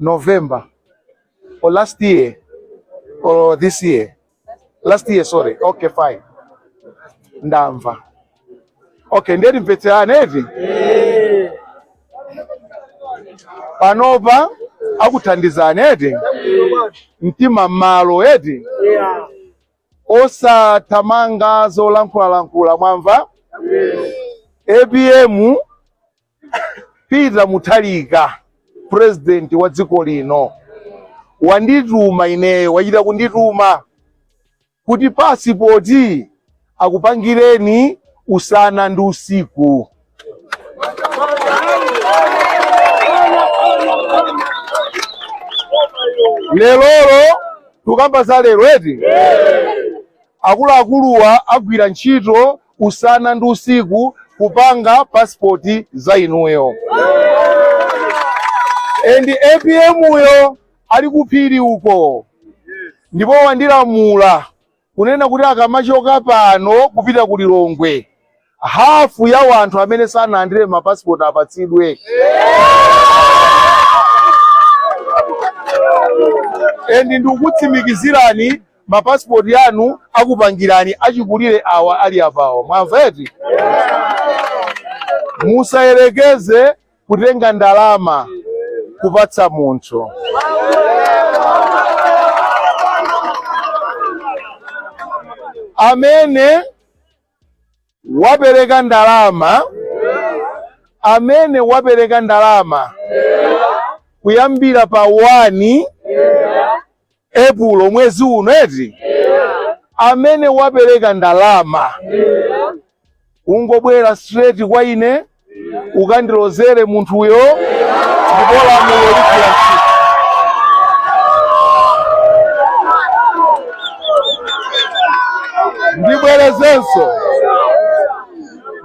November or last year or this year last year sorry okay fine ndamva okay ndiye timvetserane eti panopa akuthandizani eti mtima m'malo eti osathamanga zolankhulalankhula mwamva APM Peter Mutharika president wa dziko lino wandituma ineyo, wachita kundituma kuti pasipoti akupangireni usana ndi usiku. Lerolo tukamba za lero eti akuluakuluwa agwira ntchito usana ndi usiku kupanga pasipoti za inuyo endi APM uyo ali kuphiri uko ndipo wandilamula kunena kuti akamachoka pano kupita ku Lilongwe hafu ya wanthu amene sanalandire mapasipoti apatsidwe endi ndikutsimikizirani mapasipoti anu akupangirani achikulire awa ali apawo mwamva eti musayerekeze kutenga ndalama kupatsa munthu amene wapereka ndalama amene wapereka ndalama kuyambira pa 1 Epulo mwezi uno eti amene wapereka ndalama ungobwera straight kwa ine ukandilozere munthuyo ndipo lamulo ligwira ntchito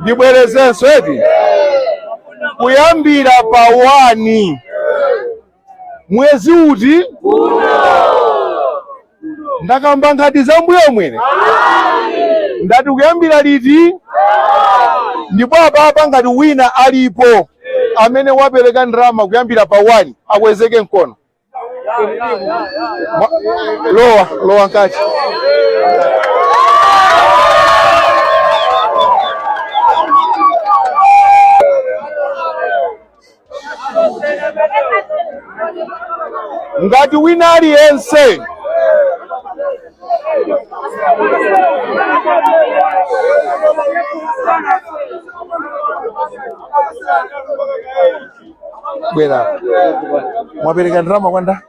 ndibwerezenso eti kuyambira pa wani mwezi uti ndakamba ngati za mbuyo mwene ndati kuyambira liti ndipo apapa ngati wina alipo amene wapereka ndalama kuyambira pa 1 akwezeke mkono Mwa- lowa lowa nkati ngati wina aliyense bwera mwapereka ndalama kwanda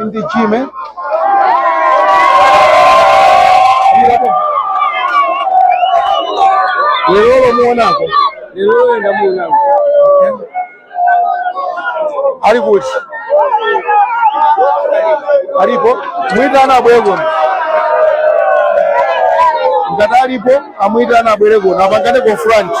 Indi Jim, eh? Lero mumuonako. Lerolo ndamuonako. Ali kuti? Alipo? Mwitana abwere kuno. Ngati alipo, amwitana abwere kuno. Apangane conference.